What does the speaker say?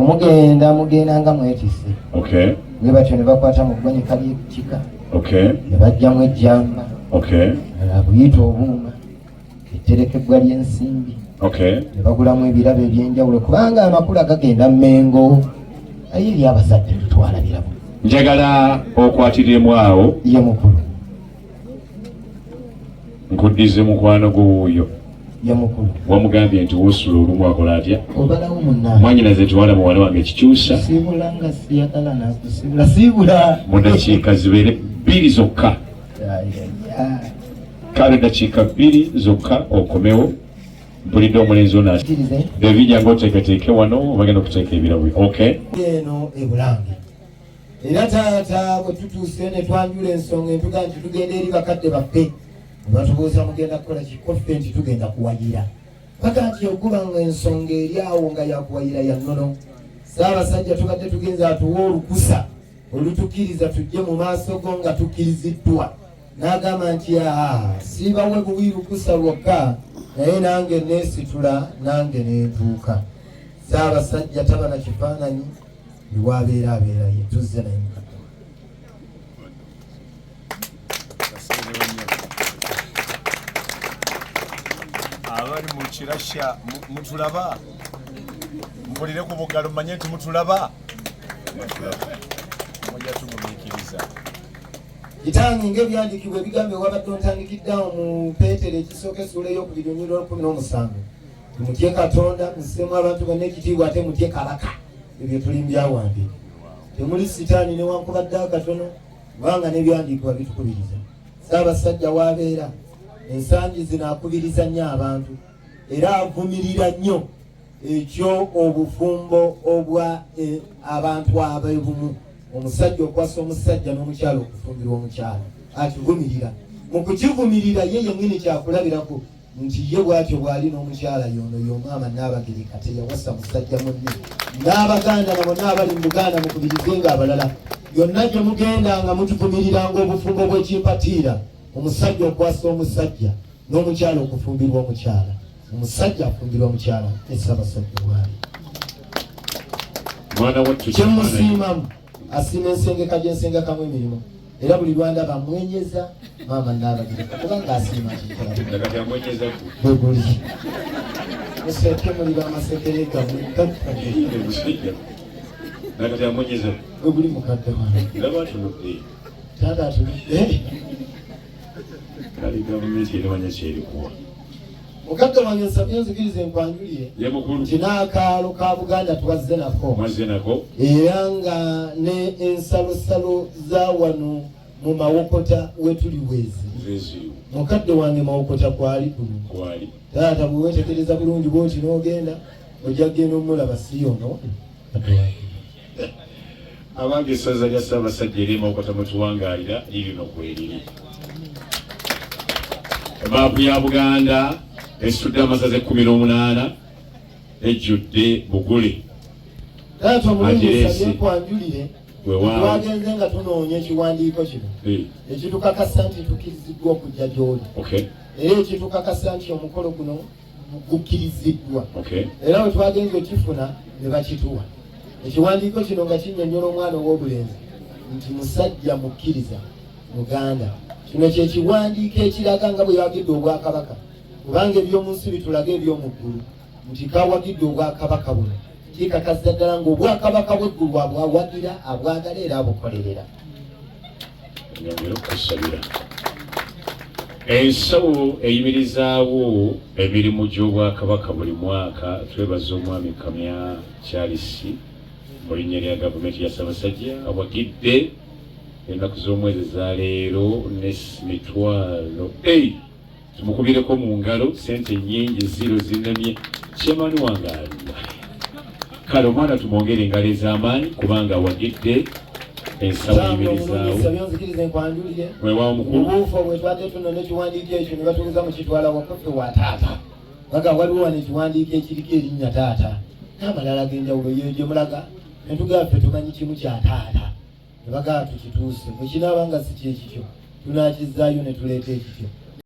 mugenda mugenda nga mwetise ne batyo ne bakwata mu ggwanika ly'ekika ne bajjamu ejjamba buyita obuuma etterekebbwa ly'ensimbi ne bagulamu ebirabo eby'enjawulo kubanga amakulu agagenda mengo aye eri abazadde tetwala birabo njagala okwatiremu awo ye mukulu nkuddize mukwano gwo wuuyo wamugambye nti wosula olumu akola atya mwanyinaze nti wala muwala wange kikyusa mu dakiika zibeere bbiri zokka kale dakiika bbiri zokka okomewo mpulidde omulenzi ona ebijja ngaoteeketeeke wano obagenda okuteeka ebirabo ok eno ebulange era taata bwe tutuuse ne twanjula ensonga entuga nti tugenda eri bakadde baffe batubuuza mugenda kukola kikoffe nti tugenda kuwayira paka nti okuba nga ensonga eri awo nga yakuwayira ya nnono saabasajja tubadde tugenza atuwa olukusa olutukiriza tujje mu maaso go nga tukkiriziddwa n'agamba nti aha siibawe buwi lukusa lwokka naye nange neesitula nange nentuuka saabasajja taba na kifaananyi bwabeera abeera ye tuzze naye mukadde abali mu kirasha mutulaba mpulire ku bugalo manye nti mutulaba mujja tugumikiriza kitange ngaebyandikibwa ebigambo ewabadde ontandikiddawo mu peetero ekisooka esuula eyokubiri onyirwa lukumi n'omusanvu mutye katonda musitemu abantu banna ekitiibwa ate mutye kabaka ebyo tulimbyawange temuli sitaani newankubadde akatono kubanga nebyandiikibwa bitukubiriza saabasajja waabeera ensangi zino akubiriza nnyo abantu era avumirira nnyo ekyo obufumbo obwa e, abantu abebumu omusajja okwasa omusajja n'omukyalo okufumbirwa omukyalo akivumirira mu kukivumirira ye yenyini kyakulabirako nti ye bwatyo bwali n'omukyala yono y'omwama Nnaabagereka teyawasa musajja munne n'abaganda nabo n'abali mu Buganda mukubirize nga abalala yonna gye mugenda nga mutuvumiriranga obufumbo bw'ekimpatiira omusajja okwasa omusajja n'omukyala okufumbirwa omukyala omusajja afumbirwa omukyala esabasajja bwali kyemusiimamu asiima ensengeka gyensengekamu emirimu era buli lwanda bamwenyeza maama nabagireka kubanga asiima bweguli museke muli bamasekere gamwe bweguli mukadde taata atunudde kale gavumenti erimanya kyerikuwa mukadde wange nsabye nzikirize nkwanjulire nti n'akaalo ka buganda twazze nako era nga ne ensalosalo za wano mu mawokota wetuli bwezi mukadde wange mawokota kwali kuno taata bwewetegereza bulungi bwoti n'ogenda ojja kugenda omulaba si yono abange esaza lya ssaabasajja erye mawokota mutuwangaalira lirino kweriri emaapu ya buganda esitudde amasaza ekkumi n'omunaana ejjudde bugule kwanjulire twagenze nga tunoonya ekiwandiiko kino hmm. ekitukakasa nti tukiriziddwa okujja gy'oli era ekitukakasa nti omukolo guno gukkiriziddwa era bwe twagenze okifuna ne bakituwa ekiwandiiko kino nga kinyonyola omwana ow'obulenzi nti musajja mukkiriza muganda kino kye kiwandiiko ekiraga nga bwe yawagidde obwakabaka kubanga eby'omu nsi bitulaga eby'omu ggulu nti kawagidde obwakabaka buno kikakasa ddala ng'obwakabaka bw'eggulu abwawagira abwagala era abukolerera nyongere okukusabira ensawo eyimirizaawo emirimu gy'obwakabaka buli mwaka twebaza omwami kamya kyalisi mu linnya lya gavumenti ya sabasajja awagidde ennaku z'omwezi za leero ne mitwalo Tumukubireko mu ngalo sente nyingi ziro zinamye Chairman wange ali. Kale omwana tumwongere engalo ez'amaanyi kubanga awagidde ensawo yimirizaawo. Weewaawo mukulu. Obuufu obwetwate tuno n'ekiwandiiko ekyo ne batuuza mu kitwala wakaffe wa taata. Baga waliwo wano ekiwandiiko ekiriko erinnya taata n'amalala g'enjawulo yeyo gye mulaga ne tugamba ffe tumanyi kimu kya taata ne bagamba tukituuse bwe kinaaba nga si kyekityo tunaakizaayo ne tuleeta ekityo